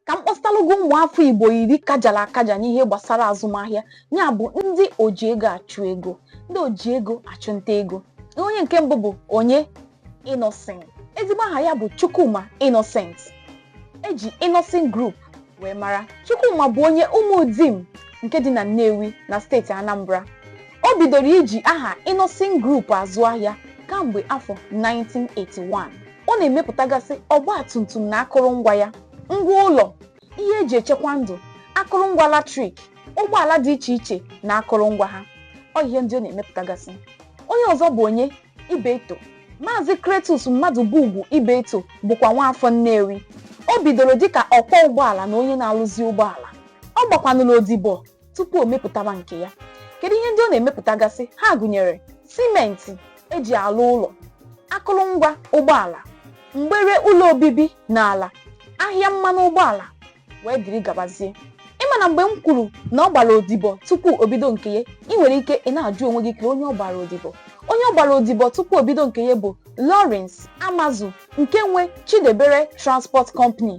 ka m kpọsịtalụ gị ụmụafọ igbo iri kajara akaja n'ihe gbasara azụmahịa ya bụ ndị oji ego achụ ego ndị oji ego achụnta ego onye nke mbụ bụ onye Innoson ezigbo aha ya bụ Chukwuma Innocent eji Innoson Group wee mara Chukwuma bụ onye Umudim nke dị na Nnewi na steeti Anambra O bidoro iji aha Innoson Group azụ ahịa kamgbe afọ 1981. Ọ na-emepụtagasị ọgba tum tum na akụrụngwa ya, ngwa ụlọ, ihe eji echekwa ndụ, akụrụngwa latrik, ụgbọala dị iche iche na akụrụngwa ha. Ọ ihe ndị ọ na-emepụtagasị. Onye ọzọ bụ onye? Ibeto. Maazị Cletus Mmadụbugwu Ibeto bụkwa nwaafọ Nnewi. O bidoro dịka ọkwọ ụgbọala na onye na-arụzi ụgbọala. Ọ gbakwanụrụ odibo tupu o mepụtawa nke ya kedu ihe ndị ọ na-emepụtagasị ha gụnyere simenti eji alụ ụlọ akụrụngwa ụgbọala mgbere ụlọ obibi na ala ahịa mmanụ ụgbọala wee dịrị gabazie ị ma na mgbe m kwuru na ọ gbara odibo tupu o bido nke ya ị nwere ike ị na-ajụ onwe gị kee onye ọ gbara odibo onye ọ gbara odibo tupu o bido nke ya bụ Lawrence Amazu nke nwe Chidiebere Transport Company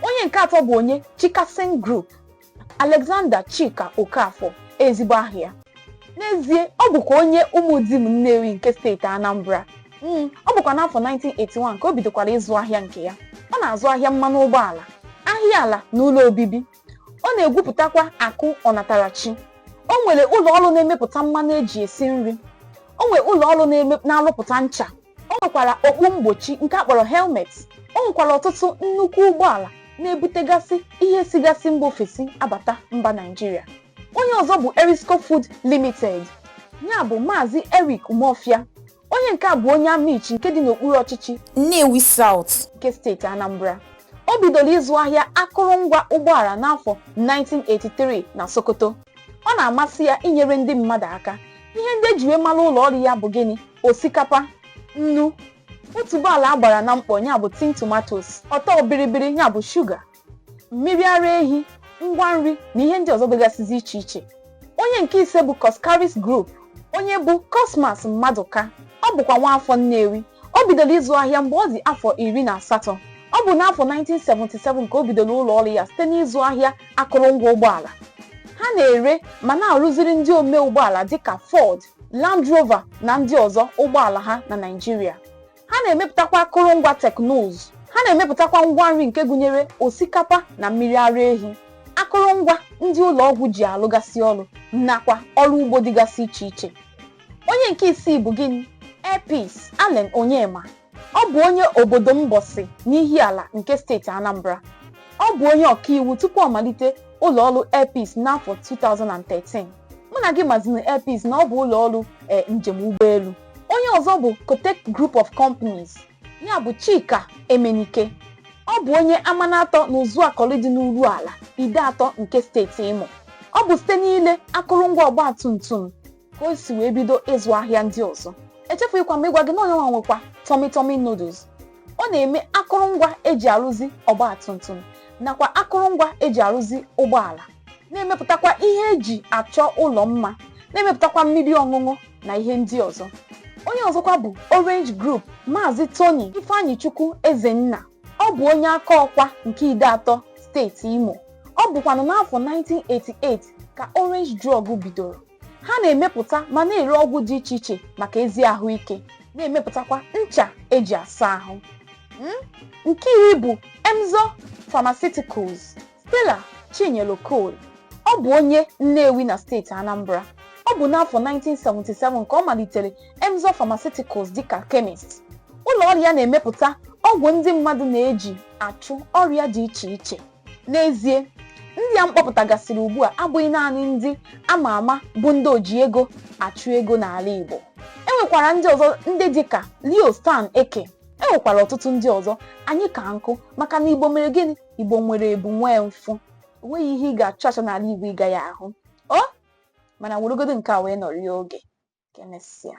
onye nke atọ bụ onye Chicason Group Alexander Chika Okafor ezigbo aha ya n'ezie ọ bụkwa onye Umudim Nnewi nke steeti Anambra Mm, ọ bụkwa n'afọ 1981 ka o bidokwara ịzụ ahịa nke ya ọ na-azụ ahịa mmanụ ụgbọala ahịa ala na ụlọ obibi ọ na-egwupụtakwa akụ ọnatarachi o nwere ụlọ ọrụ na-emepụta mmanụ eji esi nri o nwere ụlọ ọrụ na-eme- na-arụpụta ncha o nwekwara okpu mgbochi nke a kpọrọ helmet o nwekwara ọtụtụ nnukwu ụgbọala na-ebutegasị ihe sigasị mba ofesi abata mba naijiria onye ọzọ bụ erisco food limited ya bụ maazị eric umeofia onye nke a bụ onye amichi nke dị n'okpuru ọchịchị Nnewi South. nke steeti anambra o bidoro ịzụ ahịa akụrụngwa ụgbọala n'afọ 1983 na sokoto ọ na-amasị ya inyere ndị mmadụ aka ihe ndị eji wee mara ụlọ ọrụ ya bụ gịnị osikapa nnu otuboala a gbara na mkpọ ya bụ tin tomatoes ọtọ biribiri ya bụ shuga mmiri ara ehi ngwa nri na ihe ndị ọzọ dịgasịzi iche iche onye nke ise bụ Coscharis Group onye bụ Cosmas Mmadụka ọ bụkwa nwaafọ Nnewi o bidoro ịzụ ahịa mgbe ọ dị afọ iri na asatọ ọ bụ n'afọ 1977 ka o bidoro ụlọ ọrụ ya site n'ịzụ ahịa akụrụngwa ụgbọala ha na-ere ma na-arụziri ndị ome ụgbọala dịka Ford, Land Rover na ndị ọzọ ụgbọala ha na Naịjirịa. Ha na-emepụtakwa akụrụngwa teknụzụ. Ha na-emepụtakwa ngwa nri nke gụnyere osikapa na mmiri ara ehi, akụrụngwa ndị ụlọ ọgwụ ji alụgasị ọrụ nakwa ọrụ ugbo dịgasị iche iche. Onye nke isii bụ gịnị? Air Peace, Allen Onyema. Ọ bụ onye obodo Mbọsị n'Ihiala nke steeti Anambra. Ọ bụ onye ọkaiwu tupu ọ malite ụlọ ọrụ Air Peace n'afọ 2013. Mụ na gị mazinụ Air Peace na ọ bụ ụlọ ọrụ eh, njem ụgbọelu. Onye ọzọ bụ Kotec Group of Companies, ya bụ Chika Emenike. Ọ bụ onye Amanatọ na Uzuakọlị dị n'Urualla, Ideato nke steeti Imo. Ọ bụ site n'ile akụrụngwa ọgbatumtum ka o si wee bido ịzụ ahịa ndị ọzọ echefughịkwa m ịgwa gị na onye nwa nwekwa Tummy Tummy noodles ọ na-eme akụrụngwa eji arụzi ọgba tum tum nakwa akụrụngwa eji arụzi ụgbọala na-emepụtakwa ihe eji achọ ụlọ mma na-emepụtakwa mmiri ọṅụṅụ na ihe ndị ọzọ onye ọzọkwa bụ Orange Group Maazị Tony Ifeanyichukwu Ezenna ọ bụ onye Akọkwa nke Ideato steeti Imo ọ bụkwanụ n'afọ 1988 ka Orange Drug bidoro ha na-emepụta ma na-ere ọgwụ dị iche iche maka ezi ahụike na-emepụtakwa ncha eji asa ahụ Hmm? nke iri bụ Emzor Pharmaceuticals Stella Chinyelu Okoli ọ bụ onye Nnewi na steeti Anambra ọ bụ n'afọ 1977 ka ọ malitere Emzor Pharmaceuticals dịka chemist ụlọ ọrụ ya na-emepụta ọgwụ ndị mmadụ na-eji achụ ọrịa dị iche iche N'ezie, ndị a m kpọpụtagasịrị ugbu a abụghị naanị ndị a ma ama bụ ndị oji ego achụ ego n'ala Igbo. E nwekwara ndị ọzọ ndị dị ka Leo Stan Ekeh. E nwekwara ọtụtụ ndị ọzọ anyị ka nkụ maka na Igbo mere gịnị? Igbo nwere ebu nwee mfụ. O nweghị ihe ị ga-achọ achọ n'ala Igbo ị gaghị ahụ o. Mana weregodo nke a wee nọrịa oge. Ka emesịa.